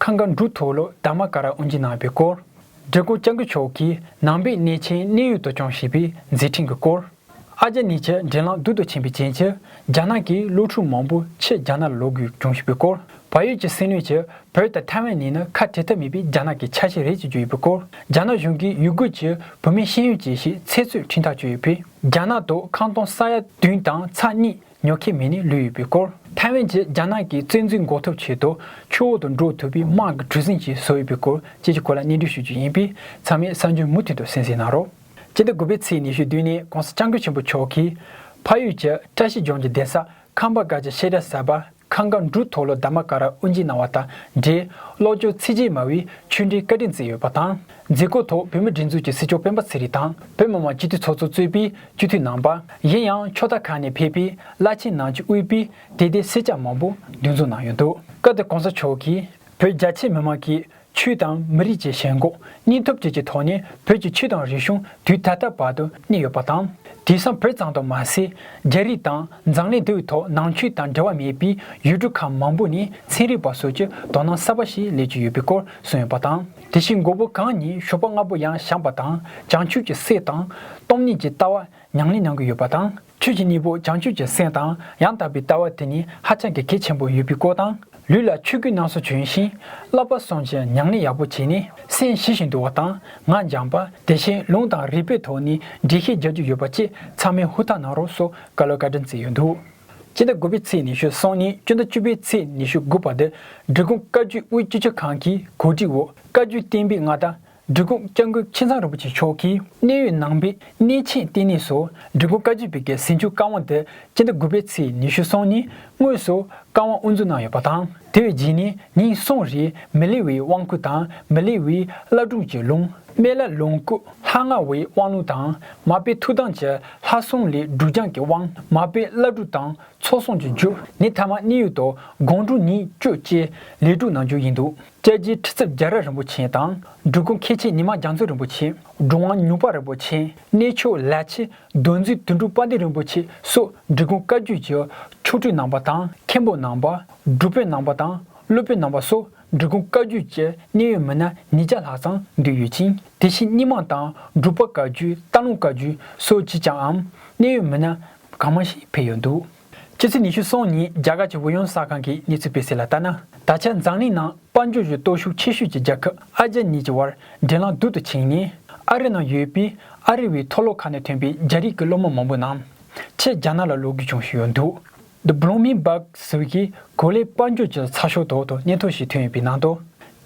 ཁང་ག་འབྲུག་ཐོག་ལོ་དར་མ་ཀ་ར་དབོན་གྱིས་གནང་བའི་སྐོར། འབྲི་གུ་སྤྱང་ཀི་མཆོག་གིས་ནང་པའི་གནས་ཆེན་གནས་ཡུལ་དུ་སྐྱོང་ཞེས་པའི་མཛད་འཕྲིན་གྱི་སྐོར། ཨ་ལྕེ་ནི་ཆེ་འབྲིང་ལང་དུ་དུ་ཕྱིན་པའི་རྐྱེན་གྱིས་རྒྱ་ནག་གིས་སློབ་ཕྲུག་མང་པོ་ཕྱིར་རྒྱ་ནག་ལ་ལོག་དགོས་བྱུང་ཞེས་པའི་སྐོར། བལ་ཡུལ་གྱི་སྲིད་བློན་གྱིས་བོད་དང་ཐའེ་ཝན་གཉིས་ནི་ཁ་བྲལ་ཐབས་མེད་པའི་རྒྱ་ནག་གི་ཆ་ཤས་རེད་ཅེས་བརྗོད་ཡོད་པའི་སྐོར། རྒྱ་ནག་གཞུང་གིས་ཡུ་གུར་གྱི་བུད་མེད་ཤེས་ཡོན་ཅན་ཞིག་ཚེ་བཙོན་འཕྲིན་ཐག་གཅོད་ཡོད་པས་རྒྱ་ནག་ཏུ་ཁང་སྟོང་ས་ཡ་བདུན་དང་ཚ་གཉིས། ཉོ་མཁན་མི་ནི་ལུས་ཡོད་པའི་སྐོར། ཐའེ་ཝན་གྱིས་རྒྱ་ནག་གི་བཙན་འཛུལ་འགོག་ཐབས་ཆེད་དུ་ཆུ་འོག་ཏུ་འགྲོ་ཐུབ་པའི་དམག་གི་གྲུ་གཟིངས་ཤིག་བཟོ་ཡོད་པའི་སྐོར་བཅས་ཀྱི་སྐོར་ལ་སྙན་སྒྲོན་ཞུ་རྒྱུ་ཡིན་པས་ཚང་མས་གསར་འགྱུར་མུ་མཐུད་དུ་གསན་གཟིགས་གནང་རོགས། སྤྱི་ཟླ་དགུ་པའི་ཚེས་ཉི་ཤུའི་དུས་ནས ྋགོང་ས ྋསྐྱབས་མགོན་ཆེན་པོ་མཆོག་གིས། ཕ་ཡུལ་གྱི་བཀྲ་ཤིས་ལྗོངས་ཀྱི་གདན་ས་ཁམས་པ་འགའ་ཅི་བཤད་གྲྭ་གསར་པ་ཁང་དགའ་འབྲུག་མཐོ་ལོ་འདབ་མ་ཀ་ར་དབུ་འབྱེད་གནང་བ་དང་འབྲེལ་ཀློག་སྐྱོར་ཚིགས་བཅད་མ་བའི་ཆོས་འབྲེལ་བཀའ་དྲིན་བསྩལ་ཡོད་པ་དང། མཛད་སྒོའི་ཐོག་བོད་མིའི་སྒྲིག་འཛུགས་ཀྱི་སྲིད་སྐྱོང་སྤེན་པ་ཚེ་རིང་དང་བོད་མི་མང་སྤྱི་འཐུས་ཚོགས་གཙོ་གཙོས་པའི་སྤྱི་འཐུས་རྣམ་པ། ཡིན་ཡང་ཕྱོགས་མཐའ་ཁག་ནས་ཕེབས་པའི་བླ་ཆེན་ནང་ཆོས་དབུས་པའི་དད་ལྡན་སེར་སྐྱ་མང་པོ་འདུས་འཛོམས་གནང་ཡོད་འདུག། སྐབས་དེར་གོང་ས་མཆོག་གིས་བོད་རྒྱ་ཆེ་མི་མང་གིས་ཆོས་དང་མི་རིགས་ཀྱི་ཞེན་ཁོག་སྙིང་སྟོབས་བཅས་ཀྱི་ཐོག་ནས་བོད་ཀྱི་ཆོས་དང་རིག་གཞུང་དུས་ད་ལྟ་བར་དུ་གནས་ཡོད་པ་དང། དེང་སང་བོད་ཙམ་དུ་མ་ཟད་རྒྱ་རིགས་དང་མཛངས་གླིང་དེའུའི་ཐོག་ནང་ཆོས་དང་འབྲེལ་བ་མེད་པའི་ཡུལ་གྲུ་ཁག་མང་པོ་ནས་ཚན་རིག་པ་སོགས་ཀྱི་དོ་སྣང་གསར་པ་ཞིག་སླེབས་ཀྱི་ཡོད་པའི་སྐོར་གསུངས་ཡོད་པ་དང། དེ་བཞིན་མགོ་བོ་གང་ཉིད་གཞོགས་པ་ལྔ་པོ་ཡང་བཞམས་པ་དང་བྱང་ཆུབ་ཀྱི་སེམས་དང། སྟོང་ཉིད་ཀྱི་ལྟ་བ་མྱང་ལེན་མྱང་གི་ཡོད་པ་དང། ཆོས་ཀྱི་གཉེན་པོ་བྱང་ཆུབ་ཀྱི་སེམས་དང་ཡང་དག་པའི་ལྟ་བ་དེ་ནི་ཧ་ཅང་གི་གལ་ཆེན་པོ་ཡོད་པའི་སྐོར་དང། ལུས་ལ་ཆོས་ཀུན་སྣང་སོ་བྱོན་ཞིང་བསླབ་པ་སོང་ཅིང་མྱང་ལེན་ཡག་པོ་བྱས་ནས་སེམས་ཞི་ཞིང་དུལ་བ་དང་ངག་འཇམ་པ་དེ་བཞིན་ལུང་དང་རིགས་པའི་ཐོག་ནས་འགྲེལ་བཤད་རྒྱག་རྒྱུ་ཡོད་པ་བཅས་ཚང་མས་ཧུར་ཐག་གནང་རོགས་སོགས་བཀའ་སློབ་བཀའ་དྲིན་བསྩལ་ཡོད་འདུག། སྤྱི་ཟླ་དགུ་པའི་ཚེས་ཉི་ཤུ་སོང་ནས་སྤྱི་ཟླ་བཅུ་པའི་ཚེས་ཉི་ཤུ་དགུ་བར་དུ་འབྲི་གུང་བཀའ་བརྒྱུད་དབུས་སྤྱི་བྱ་ཁང་གི་གོ་སྒྲིག་འོག་བཀའ་བརྒྱུད་བསྟན་པའི་མངའ་བདག་འབྲི་གུང་སྐྱབས་མགོན་ཁྱི་ཚང་རིན་པོ་ཆེ་མཆོག་གིས་གནས་ཡུལ་ནང་པའི་གནས་ཆེན་བསྟི་གནས་སུ་འབྲི་གུང་བཀའ་བརྒྱུད་པའི་སྐལ་ཟིན་ཆུ་དཀར་དབང་དུ་སྤྱི་ཟླ་དགུ་པའི་ཚེས་ཉི་ཤུ་སོང་ནས་དངོས་སུ་བཀའ་དབང་དབུ་འཛུགས་གནང་ཡོད་པ་དང། དེ་བས་འཇིག་ནས་ཉིད་གསུངས་རིགས་མི་ལི་བའི་དབང་བསྐུར་དང་མི་ལི་བའི་བླ་སྒྲུབ་ཀྱི་ལུང། སྨན་བླ་ལོངས་སྐུ་ལྷ་ལྔ་བའི་དབང་ལུང་དང་མ་དཔེ་ཐུགས་དམ་གྱི་ལྷ་གསུམ་ལས་སྒྲུབ་རྐྱང་གི་དབང་མ་དཔེ་བླ་སྒྲུབ་དང་ཚོགས་གསོག་ཀྱི་མཇུག་ནི་ཐ་མ་གནས་ཡུལ་དུ་དགོངས་དྲུག་ཉིད་བཅུ་བཅས་ལས་དྲུག་ནང་རྒྱུག་ཡིན་འདུག་དཔྱད་རྒྱའི་ཁྲི་ཚབ་རྒྱ་ར་རིན་པོ་ཆེ་དང་སྒྲུབ་སྐུ་མཁས་ཆེན་ཉི་མ་རྒྱ་མཚོ་རིན་པོ་ཆེ་སྒྲུབ་དབང་ཉུག་པ་རིན་པོ་ཆེ་གནས་མཆོག་ལ་ཆེ་གདོན་འཛིན་དོན་གྲུབ་པཎ་ཏི་རིན་པོ་ཆེ་སོགས་འབྲི་གུང་བཀའ་བརྒྱུད་ཀྱི་མཆོག་སྤྲུལ་ནང་པ་དང་མཁན་པོ་ནང་པ། སྒྲུབ་དཔོན་ནང་པ་དང་སློབ་དཔོན་ནང་པ་སོགས་འབྲི་གུང་བཀའ་བརྒྱུད་ཀྱི་གནད་ཡོད་མི་སྣ་ཉིས་བརྒྱ་ལྷག་ཙམ་འདུས་ཡོད་ཅིང་དེ་བཞིན་རྙིང་མང་དང་སྒྲུབ་པ་བཀའ་བརྒྱུད་སྟག་ལུང་བཀའ་བརྒྱུད་སོགས་ཀྱི་ཅང་ཨམ་གནད་ཡོད་མི་སྣ་གང་མང་ཞིག་ཕེབས་ཡོད་འདུག། ཕྱི་ཚེས་ཉི་ཤུ་སོང་ཉིན་རྒྱ་གར་གྱི་ཝུ་ཡོན་གསར་ཁང་གི་གནས་ཚུལ་སྤེལ་གསལ་ལ་ལྟ་ན། ད་ཆ་འཛམ་གླིང་ནང་དཔལ་འབྱོར་གྱི་སྟོབས་ཤུགས་ཆེ་ཤོས་ཀྱི་རྒྱལ་ཁབ་ཨ་རྒྱ་གཉིས་ཀྱི་དབར་འབྲེལ་ལམ་སྡུག་ཏུ་ཕྱིན་ནས། ཨ་རི་ནང་ཡོད་པའི་ཨ་རི་བའི་མཐོ་སློབ་ཁག་ནས་ཐོན་པའི་རྒྱ་རིགས་ཀྱི་སློབ་མ་མང་པོ་རྣམས་ཕྱིར་རྒྱ་ནག་ལ་ལོག་དགོས་བྱུང་ཞིག་ཡོད་འདུག The Bloomingburg ཟུར་གྱིས་གོ་ལའི་དཔལ་འབྱོར་གྱི་ཚགས་ཤོག་ཐོག་ཏུ་སྙན་ཐོ་ཞིག་ཐོན་ཡོད་པའི་ནང་དུ།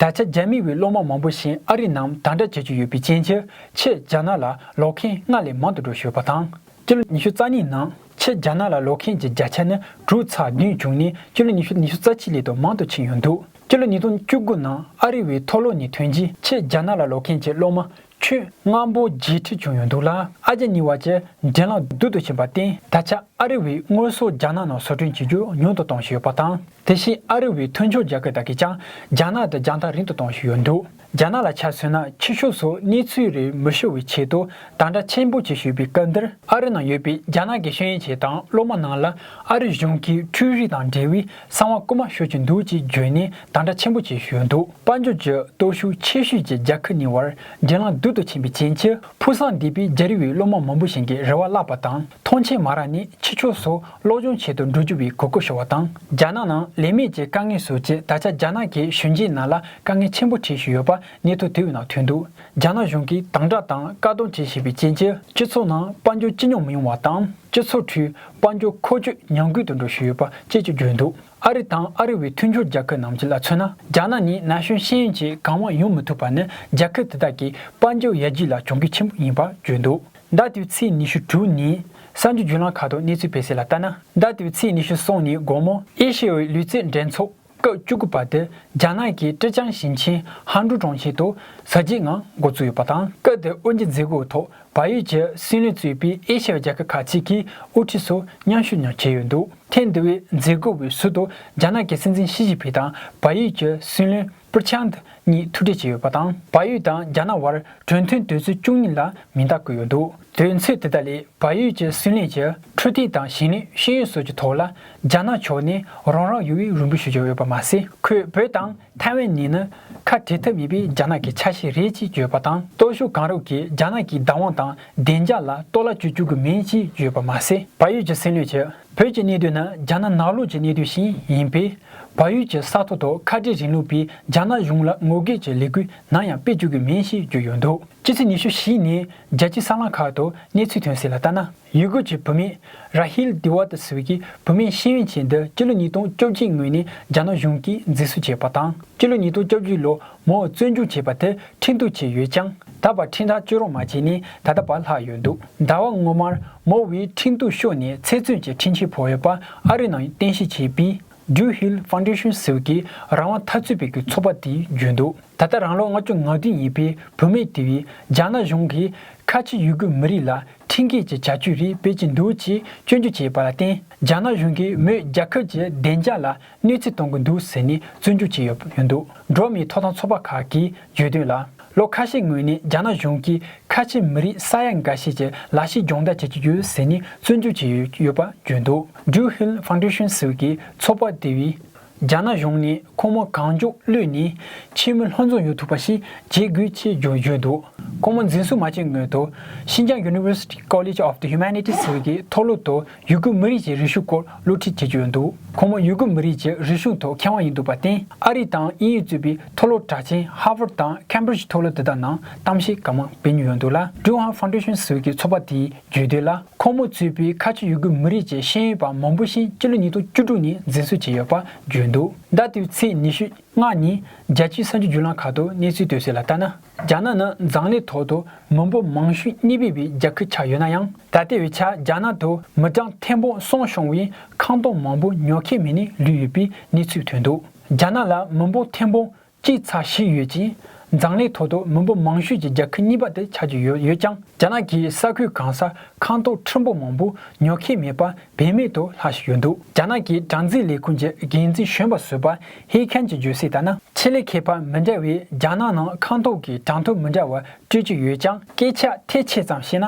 ད་ཆ་རྒྱ་མི་བའི་སློབ་མ་མང་པོ་ཞིག་ཨ་རི་ནང་དང་འདྲ་བྱེད་ཀྱི་ཡོད་པའི་རྐྱེན་གྱིས་ཕྱིར་རྒྱ་ནག་ལ་ལོག་མཁན་སྔར་ལས་མང་དུ་འགྲོ་ཞུས་པ་དང། སྤྱི་ལོ་ཉི་ཤུ་རྩ་གཉིས་ནང་ཆེས་རྒྱ་ནག་ལ་ལོག་མཁན་གྱི་བརྒྱ་ཆ་ནི་དྲུག་ཚ་རྒྱུན་བྱུང་ནས་སྤྱི་ལོ་ཉི་ཤུ་ཉི་ཤུ་རྩ་གཅིག་ལས་དུ་མང་དུ་ཕྱིན་ཡོད་འདུག་སྤྱི་ལོ་ཉིས་སྟོང་བཅུ་དགུ་ནང་ཨ་རི་བའི་ཐོ་ལོ་ནས་ཐོན་རྗེས་ཆེས་རྒྱ་ནག་ལ་ལོག་མཁན་གྱི་སློབ་མ་ཁྱོན་ལྔ་པོ་བརྒྱད་ཁྲི་བྱུང་ཡོད་འདུག་ལ་ཨ་རྒྱ་གཉིས་བར་གྱི་འགྲན་ལམ་སྡུག་ཏུ་ཕྱིན་པར་བརྟེན་ད་ཆ་ཨ་རི་བས་དངོས་ཟོག་རྒྱ་ནག་ནང་བཟོ་སྐྲུན་བྱེད་རྒྱུ་ཉུང་དུ་གཏོང་བཞིན་ཡོད་པ་དང་དེ་བཞིན་ཨ་རི་བའི་མཐུན་སྦྱོར་རྒྱལ་ཁབ་དག་གིས་ཀྱང་རྒྱ་ནག་དང་རྒྱང་ཐག་རིང་དུ་གཏོང་བཞིན་ཡོད་འདུག། རྒྱ་ནག་ལ་ཆ་མཚོན་ན་ཕྱི་ཕྱོགས་སུ་གནས་ཚུལ་རེ་མི་ཤོར་བའི་ཆེད་དུ་དང་སྒྲ་ཆེན་པོ་གཅིག་ཞུས་པའི་སྐབས་འདིར། ཨ་རི་ནང་ཡོད་པའི་རྒྱ་ནག་གི་ཤེས་ཡོན་ཅན་དང་སློབ་མ་རྣམས་ལ་ཨ་རི་གཞུང་གིས་འཕྲུལ་རིག་དང་འབྲེལ་བའི་གསང་བ་རྐུ་མ་ཤོར་གྱི་འདུག་ཅེས་བརྗོད་ནས་དང་སྒྲ་ཆེན་པོ་གཅིག་ཞུས་འདུག་དཔལ་འབྱོར་གྱི་སྟོབས་ཤུགས་ཆེ་ཤོས་ཀྱི་རྒྱ་ཁུ་ནི་བར་རྒྱལ་ལངས་རྡུལ་དུ་ཕྱིན་པའི་རྐྱེན་གྱིས་ཕུགས་བསམ་འདས་པའི་རྒྱ་རི་བའི་སློབ་མ་མང་པོ་ཞིག་གི་རེ་བ་བརླགས་པ་དང་ཐོངས་མཆན་མ་རག་ནས་ཕྱི་ཕྱོགས་སུ་སློབ་སྦྱོང་བྱེད་དུ་འགྲོ་རྒྱུ་བའི་གོ་སྐབས་ཤོར་བ་དང། རྒྱ་ནག་ནང་ལས་མེད་ཀྱི་དཀའ་ངལ་བཟོ་ཆེད་ད་ཆ་རྒྱ་ནག་གི་གཞོན་སྐྱེས་རྣམས་ལ་དཀའ་ངལ་ཆེན་པོ་འཕྲད་བཞིན་ཡོད་པ་གནས་ཚུལ་དེ་བས་ནང་ཐོན་འདུག་རྒྱ་ནག་གཞུང་གིས་དང་བསྒྲགས་དང་བཀག་སྡོམ་བྱེད་བཞིན་པའི་རྐྱེན་གྱིས། སྤྱི་ཚོགས་ནང་དཔལ་འབྱོར་སྤྱི་སྙོམས་མི་ཡོང་བ་དང་སྤྱི་ཚོགས་ཁྲོད་དཔལ་འབྱོར་འཁོར་སྐྱོད་ཉམས་རྒུད་དུ་འགྲོ་བཞིན་ཡོད་པ་བཅས་ཀྱི་བརྗོད་འདུག། ཨ་རི་དང་ཨ་རི་བའི་མཐུན་སྦྱོར་རྒྱལ་ཁབ་རྣམས་ཀྱི་ལ་མཚོན་ན་རྒྱ་ནག་ནི་ན་གཞོན་ཤེས་ཡོན་གྱིས་གང་མང་ཡོང་མི་ཐུབ་པ་ནི་རྒྱལ་ཁབ་དེ་དག་གི་དཔལ་འབྱོར་ཡར་རྒྱས་ལ་གྱོང་གུད་ཆེན་པོ་ཡིན་པར་བརྗོད་འདུག་ཟླ་དེའི་ཚེས་ཉི་ཤུ་དྲུག་ཉིན་གསར་འགྱུར་བརྒྱུད་ལམ་ཁག་ཏུ་གནས་ཚུལ་སྤེལ་གསལ་ལ་ལྟ་ན། ཟླ་དེའི་ཚེས་ཉི་ཤུ་གསུམ་ཉིན་དགོང་མོ། ཨེ་ཤེ་ཡའི་ལུས་རྩལ་འགྲན་ཚོགས་སྐབས་བཅུ་དགུ་པ་དེ་རྒྱ་ནག་གི་ཀྲེ་ཅང་ཞིང་ཆེན་ཧན་ཀྲུའུ་གྲོང་ཁྱེར་དུ་གཟབ་རྒྱས་ངང་འགོ་བཙུགས་ཡོད་པ་དང་སྐབས་དེར་དབུ་འབྱེད་མཛད་སྒོའི་ཐོག་བལ་ཡུལ་གྱི་སྲིད་བློན་གཙོས་པའི་ཨེ་ཤི་ཡའི་རྒྱལ་ཁབ་ཁག་ཅིག་གི་དབུ་ཁྲིད་ཚོ་མཉམ་ཞུགས་ཡང་བྱས་ཡོད་འདུག་ཐེངས་འདི་བའི་མཛད་སྒོ་བའི་ཟུར་དུ་རྒྱ་ནག་གི་སྲིད་འཛིན་ཞི་ཅིན་ཕིང་དང་བལ་ཡུལ་གྱི་སྲིད་བློན་པུར་ཆཱན་ཏི་གཉིས་ཐུག་འཕྲད་བྱས་ཡོད་པ་དང། བལ་ཡུལ་དང་རྒྱ་ནག་བར་གྲོས་མཐུན་དོན་ཚན་བཅུ་གཉིས་ལ་མིང་རྟགས་བཀོད་ཡོད་འདུག་དོན་ཚན་དེ་དག་ལས་བལ་ཡུལ་གྱི་སྲིད་བློན་གྱིས་འཕྲོད་བསྟེན་དང་ཞིང་ལས་ཤེས་ཡོན་སོགས་ཀྱི་ཐོག་ལ་རྒྱ་ནག་ཕྱོགས་ནས་རང་རང་ཡུལ་དབུས་རིང་པོ་ཞུ་རྒྱུ་ཡོད་པ་མ་ཟད། ཁོས་བོད་དང་ཐའེ་ཝན་ནི་ནི་ཁ་བྲལ་ཐབས་མེད་པའི་རྒྱ་ནག་གི་ཆ་ཤས་རེད་ཅེས་བརྗོད་པ་དང། སྟོབས་ཤུགས་གང་རུང་གིས་རྒྱ་ནག་གི་བདག་དབང་དང་བདེ་འཇགས་ལ་གཏོར་བརླག་བྱེད་བཅུག་གི་མིན་ཅེས་བརྗོད་པ་མ་ཟད། བལ་ཡུལ་གྱི་སྲིད་བློན་གྱིས་བོད་ཀྱི་གནད་དོན་ནི་རྒྱ་ནག་ནག་ལུགས་ཀྱི་གནད་དོན་ཞིག་ཡིན་པས། བལ་ཡུལ་གྱི་ས་ཐོག་ཏུ་ཁ་བྲལ་རིང་ལུགས་པའི་རྒྱ་ནག་གཞུང་ལ་ངོ་རྒོལ་གྱི་ལས་འགུལ་ནམ་ཡང་སྤེལ་བཅུག་གི་མིན་ཞེས་བརྗོད་ཡོད་འདུག་ཕྱི་ཚེས་ཉི་ཤུ་བཞི་ཉིན་རྒྱལ་སྤྱིའི་གསར་ལམ་ཁག་ཏུ་གནས་ཚུལ་ཐོན་གསལ་ལ་ལྟ་ན། ཡུ་གུར་གྱི་བུད་མེད་རཱ་ཧིལ་དི་ཝ་ཏི་སུའུ་ཀིས་བུད་མེད་ཤེས་ཡོན་ཅན་འདི་སྤྱི་ལོ་ཉིས་སྟོང་བཅོ་བརྒྱད་སྔོན་ནས་རྒྱ་ནག་གཞུང་གིས་འཛིན་བཟུང་བྱས་པ་དང་སྤྱི་ལོ་ཉིས་སྟོང་བཅོ་བརྒྱད་ལོ་མོ་བཙོན་འཇུག་བྱས་པ་དེ་ཁྲིམས་གཏུག་བྱས་ཡོད་ཀྱང་ད་བར་ཁྲིམས་ཐག་གཅོད་རོགས་མ་བྱས་ནས་ད་ལྟ་བར་ལྷག་ཡོད་འདུག་ཟླ་བ་སྔོན་མར་མོ་ཝེ་ཁྲིམས་གཏུག་ཤོར་ནས་ཚེ་བཙོན་གྱི་འཕྲིན་ཆས་ཕོག་ཡོད་པ་ཨ་རིའི་ནང་རྟེན་གཞི་བྱས་པའི Drew Hill Foundation སུའུ་ཀི་རང་དབང་འཐབ་རྩོད་པའི་གི་ཚོགས་པ་དེས་བརྗོད་འདུག་ད་ལྟ་རང་ལོ་ལྔ་བཅུ་ང་བདུན་ཡིན་པའི་བུད་མེད་དེ་བས་རྒྱ་ནག་གཞུང་གིས་ཁ་ཆེ་ཡུ་གུར་མི་རིགས་ལ་ཁྲིན་ཀེ་ཀྱི་བྱ་སྤྱོད་རིགས་བེད་ཀྱིས་འདུག་ཅེས་སྐྱོན་བརྗོད་བྱས་པ་ལ་བརྟེན་རྒྱ་ནག་གཞུང་གིས་མོས་རྒྱ་ཁབ་ཀྱི་བདེ་འཇགས་ལ་གནོད་འཚེ་གཏོང་གི་འདུག་ཟེར་ནས་བཙོན་འཇུག་བྱས་ཡོད་འདུག་འགྲོ་མིའི་ཐོབ་ཐང་ཚོགས་པ་ཁག་གིས་བརྗོད་དོན་ལ། ལོ་ཁ་ཤས་སྔོན་ནས་རྒྱ་ནག་གཞུང་གིས་ཁ་ཆེ་མི་རིགས་ས་ཡ་འགའ་ཤས་ཀྱི་ལག་ཤེས་སྦྱོང་བརྡར་བྱེད་ཀྱི་ཡོད་ཟེར་ནས་བཙོན་འཇུག་བྱས་ཡོད་པ་བརྗོད་འདུག Ju Hill Foundation ཟེར་བའི་ཚོགས་པ་དེ་བས། རྒྱ་ནག་གཞུང་ནས་ཁོང་མོ་གང་མགྱོགས་གློད་ནས་ཆེས་མོས་ལྷོ་འཛོམས་ཡོང་ཐུབ་པ་ཞིག་བྱེད་དགོས་ཆེད་བརྗོད་བརྗོད་འདུག་ཁོང་མོ་འཛིན་བཟུང་མ་བྱས་སྔོན་དུ། Xinjiang University College of the Humanities ཟེར་བའི་གི་མཐོ་སློབ་ཏུ་ཡུ་གུར་མི་རིགས་ཀྱི་རིག་གཞུང་སྐོར་སློབ་ཁྲིད་བྱེད་ཀྱི་ཡོད་འདུག་ཁོང་མོ་ཡུ་གུར་མི་རིགས་ཀྱི་རིག་གཞུང་ཐོག་མཁས་དབང་ཡིན་འདུག་པར་བརྟེན་ཨ་རི་དང་དབྱིན་ཡུལ་གཙོས་པའི་མཐོ་སློབ་གྲགས་ཆེན Harvard དང Cambridge མཐོ་སློབ་དེ་དག་ནང་གཏམ་བཤད་གང་མང་སྤེལ་མྱོང་ཡོད་འདུག་ལ Druhan Foundation ཟེར་བའི་གི་ཚོགས་པ་དེའི་བརྗོད་དོན་ལ་ཁོང་མོ་གཙོས་པའི་ཁ་ཆེ་ཡུ་གུར་མི་རིགས་ཀྱི་ཤེས་ཡོན་པ་མང་པོ་ཞིག་སྤྱི་ལོ་ཉིས་སྟོང་བཅུ་དྲུག་ནས་འཛིན་བཟུང་བྱས་ཡོད་པ་བརྗོད་འདུག་ཟླ་དེའི་ཚེས་ཉི་ཤུ་སྔ་ཉིན་རྒྱལ་སྤྱིའི་ས་མཆོད་བརྒྱུད་ལམ་ཁག་ཏུ་གནས་ཚུལ་སྤེལ་གསལ་ལ་ལྟ་ན་རྒྱ་ནག་ནི་མཛངས་ལས་ཐོག་ཏུ་མི་འབོར་མང་ཤོས་གཉིས་སྤེལ་བའི་རྒྱལ་ཁུལ་ཆགས་ཡོད་ན་ཡང་ད་ལྟའི་བའི་ཆར་རྒྱ་ནག་ཏུ་མི་གྲངས་ཐེར་འབུམ་སོང་ཤོང་བའི་ཁང་སྟོང་མང་པོ་ཉོ་མཁན་མེད་ནས་ལུས་ཡོད་པའི་གནས་ཚུལ་ཐོན་འདུག་རྒྱ་ནག་ལ་མི་འབོར་ཐེར་འབུམ་སྤྱིའི་ཚགས་ཤིག་ཡོད་ཅིང་མཛངས་ལས་ཐོག་ཏུ་མི་འབོར་མང་ཤོས་ཀྱི་རྒྱ་ཁུལ་གཉིས་པ་དེ་ཆགས་ཀྱི་ཡོད་ཡོད་ཀྱང་རྒྱ་ནག་གི་ས་ཁུལ་གང་སར་ཁང་ཏོག་ཁྲི་འབོར་མང་པོ་ཉོ་མཁན་མེད་པར་བེད་མེད་དུ་ལྷག་བཞིན་ཡོད་འདུག་རྒྱ་ནག་གི་སྦྲང་རྩི་ལས་ཁུངས་ཀྱི་འགན་འཛིན་གཞོན་པ་སུ་པར་ཧི་ཁན་གྱིས་བརྗོད་གསལ་ལྟར་ན། ཆེད་ལས་ཁེ་ཕན་མི་འདྲ་བས་རྒྱ་ནག་ནང་ཁང་ཏོག་གི་གྲངས་ཐོ་མི་འདྲ་བ་སྤྲོད་ཀྱི་ཡོད་ཀྱང། སྐད་ཆ་ཐལ་ཆེ་ཙམ་བཤད་ན།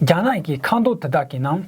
རྒྱ་ནག་གི་ཁང་ཏོག་དེ་དག་གི་ནང་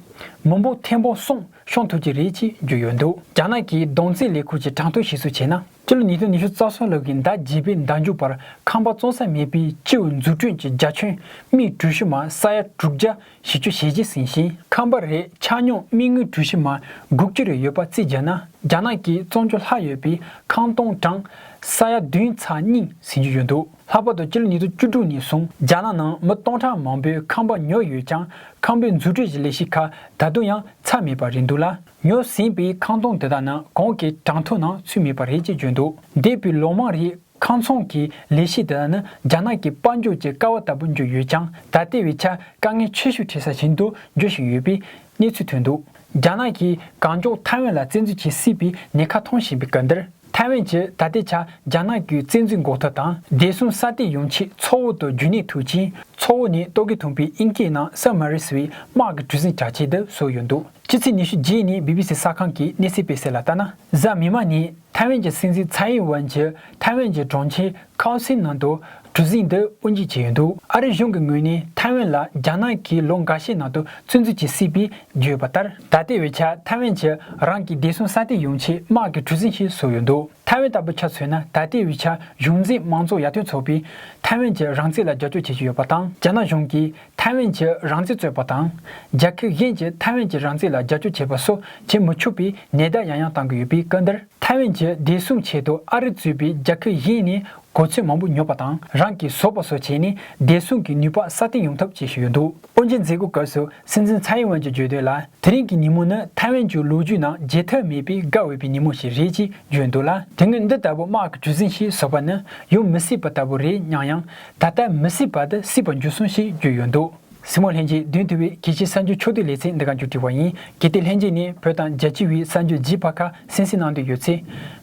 མི་འབོར་ཐེར་འབུམ་གསུམ་ཤོང་ཐུབ་ཀྱི་རེད་ཅེས་བརྗོད་ཡོད་འདུག་རྒྱ་ནག་གི་སྦྲང་རྩི་ལས་ཁུངས་ཀྱི་གྲངས་ཐོ་ཞིབ་གསོ་བྱས་ན། སྤྱི་ལོ་ཉིས་སྟོང་ཉི་ཤུ་རྩ་གསུམ་ལོ་གི་ཟླ་བརྒྱད་པའི་ཟླ་མཇུག་བར་ཁང་པ་བཙོང་ས་མེད་པའི་སྤྱི་བོའི་འཛུགས་སྐྲུན་གྱི་རྒྱ་ཁྱོན་རྨིད་གྲུ་བཞི་མ་ས་ཡ་དྲུག་བརྒྱ་བཞི་ཅུ་ཞེ་གཅིག་ཟིན་ཞིང་ཁང་པ་རེའི་ཆ་སྙོམས་རྨིད་ངོས་གྲུ་བཞི་མ་དགུ་བཅུ་རེ་ཡོད་པ་རྩིས་བརྒྱབ་ན་རྒྱ་ནག་གི་བཙོང་རྒྱུ་ལྷག་ཡོད་པའི་ཁང་སྟོང་གྲངས་ས་ཡ་བདུན་ཚ་རྙིང་ཟིན་རྒྱུ་ཡོད་འདུག་ལྷག་པར་དུ་སྤྱི་ལོ་ཉིས་སྟོང་བཅུ་དྲུག་ནས་བཟུང་རྒྱ་ནག་ནང་མི་སྟོང་ཕྲག་མང་པོའི་ཁང་པ་ཉོས་ཡོད་ཀྱང་ཁང་པའི་འཛུགས་སྐྲུན་གྱི་ལས་གཞི་ཁག་ད་དུང་ཡང་ཚར་མེད་པ་རེད་འདུག་ལ། ཉོས་ཟིན་པའི་ཁང་སྟོང་དེ་དག་ནི་གང་གི་གྲངས་ཐོའི་ནང་ཚུད་མེད་པ་རེད་ཅེས་བརྗོད་འདུག་འདས་པའི་ལོ་མང་རིང་ཁང་ཚོང་གི་ལས་གཞི་དེ་དག་ནི་རྒྱ་ནག་གི་དཔལ་འབྱོར་གྱི་ཀ་བ་ལྟ་བུར་གྱུར་ཡོད་ཀྱང་ད་ལྟའི་བའི་ཆར་དཀའ་ངལ་ཆེ་ཤོས་འཕྲད་ས་ཞིག་ཏུ་འགྱུར་བཞིན་ཡོད་པའི་གནས་ཚུལ་ཐོན་འདུག་རྒྱ་ནག་གིས་གང་མགྱོགས་ཐའེ་ཝན་ལ་བཙན་འཛུལ་བྱེད་སྲིད་པའི་ཉེན་ཁ་མཐོང་བཞིན་པའི་སྐབས་འདིར། ཐའེ་ཝན་གྱིས་ད་ལྟའི་ཆར་རྒྱ་ནག་གི་བཙན་འཛུལ་འགོག་ཐབས་དང་བདེ་སྲུང་སྲ་བརྟན་ཡོང་ཆེད་མཚོ་བོད་དུ་རྒྱུན་གནས་ཐུབ་ཅིང་མཚོ་བོད་ནི་ཏོག་གི་དུང་བའི་དབྱིན་སྐད་ནང་སཱ་མཱ་རི་སི་ཝི་དམག་གི་གྲུ་གཟིངས་བྱ་ཆེད་དུ་བཟོས་ཡོད་འདུག་ཕྱི་ཚེས་ཉི་ཤུ་རྗེས་ནས་བྷི་བྷི་སི་གསར་ཁང་གིས་གནས་ཚུལ་སྤེལ་གསལ་ལ་ལྟ་ན། གཟའ་མིག་མ་ནི་ཐའེ་ཝན་གྱི་སྲིད་འཛིན་ཚའེ་ཨེན་ཝན་གྱིས་ཐའེ་ཝན་གྱི་གྲོང་ཁྱེར་ཁའོ་སིའི་ནང་དུ་གྲུ་གཟིངས་འདི་དབུ་འབྱེད་བྱས་ཡོད་འདུག་ཨ་རི་གཞུང་གི་ངོས་ནས་ཐའེ་ཝན་ལ་རྒྱ་ནག་གིས་ལོ་འགའ་ཤས་ནང་དུ་བཙན་འཛུལ་གྱིས་སྲིད་པའི་བརྗོད་ཡོད་པ་ལྟར། ད་ལྟའི་བའི་ཆར་ཐའེ་ཝན་གྱིས་རང་གི་བདེ་སྲུང་ས་སྟེགས་ཡོང་ཆེད་དམག་གི་གྲུ་གཟིངས་ཤིག་བཟོས་ཡོད་འདུག་ཐའེ་ཝན་ལྟ་བུ་ཆ་མཚོན་ན་ད་ལྟའི་བའི་ཆར་གཞུང་འཛིན་མང་གཙོ་ཡར་ཐོན་ཚོགས་པས་ཐའེ་ཝན་གྱི་རང་བཙན་ལ་རྒྱབ་སྐྱོར་བྱེད་ཀྱི་ཡོད་པ་དང་རྒྱ་ནག་གཞུང་གིས་ཐའེ་ཝན་གྱིས་རང་བཙན་རྩོད་པ་དང། རྒྱ་ཁེ་གཞན་གྱིས་ཐའེ་ཝན་གྱི་རང་བཙན་ལ་རྒྱབ་སྐྱོར་བྱེད་པ་སོགས་བྱེད་མི་ཆོག་པའི་ནན་བརྡ་ཡང་ཡང་གཏང་གི་ཡོད་པའི་སྐབས་འདིར། ཐའེ་ཝན་གྱི་བདེ་སྲུང་ཆེད་དུ་ཨ་རི་གཙོས་པའི་རྒྱ་ཁེ་གཞན་ནས་གོ་ཚོད་མང་པོ་ཉོས་པ་དང་རང་གིས་བཟོ་པ་སོགས་བྱས་ནས་བདེ་སྲུང་གི་ནུས་པ་སྲ་བརྟན་ཡོང་ཐབས་བྱེད་བཞིན་ཡོད་འདུག་དབུ་འབྱེད་མཛད་སྒོའི་སྐབས་སུ་སྲིད་འཛིན་ཚའེ་ཝན་གྱིས་བརྗོད་དོན་ལ་དེ་རིང་གི་ཉིན་མོ་ནི་ཐའེ་ཝན་གྱི་ལོ་རྒྱུས་ནང་བརྗེད་ཐབས་མེད་པའི་དགའ་འོས་པའི་ཉིན་མོ་ཞིག་རེད་ཅེས་བརྗོད་འདུག་ལ། དེ་སྔོན་འདི་ལྟ་བུ་དམག་གི་ཇུས་ཟིན་ཞིག་བཟོ་བ་ནི་ཡོང་མི་སྲིད་པ་ལྟ་བུ་རེད་སྙམ་ཡང། ད་ལྟ་མི་སྲིད་པར་དུ་སྲིད་པར་འགྱུར་སོང་ཞེས་བརྗོད་ཡོད་འདུག་སྲིང་མོ་ལྷན་རྒྱས་བདུན་དུ་བའི་གལ་ཆེའི་གསར་འགྱུར་ཕྱོགས་བསྡུས་ལེ་ཚན་འདི་ག་མཇུག་སྒྲིལ་བ་ཡིན་གལ་ཏེ་ལྷན་རྒྱས་ནས་བོད་དང་རྒྱལ་སྤྱི་དབུས་གསར་འགྱུར་བརྗིད་པ་ཁག་གསན་གཟིགས་གནང་འདོད་ཡོད་ཚེ།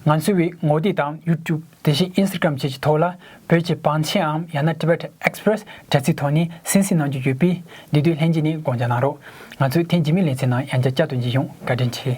ང་ཚོའི་བའི་ངོ་དེབ་དང YouTube དེ་བཞིན Instagram བཅས་ཀྱི་ཐོག་ལ་བོད་ཀྱི་བང་ཆེན་འམ་ཡང་ན Tibet Express དྲ་ཚིགས་ཐོག་ནས་གསན་གཟིགས་གནང་རྒྱུ་ཡོད་པས་འདི་དུས་ལྷན་རྒྱས་ནས་དགོངས་འཇགས་གནང་རོགས། ང་ཚོས་ཐེངས་རྗེས་མའི་ལེ་ཚན་ནང་ཡང་བསྐྱར་བསྐྱར་དུ་མཇལ་ཡོང་བཀའ་དྲིན་ཆེ།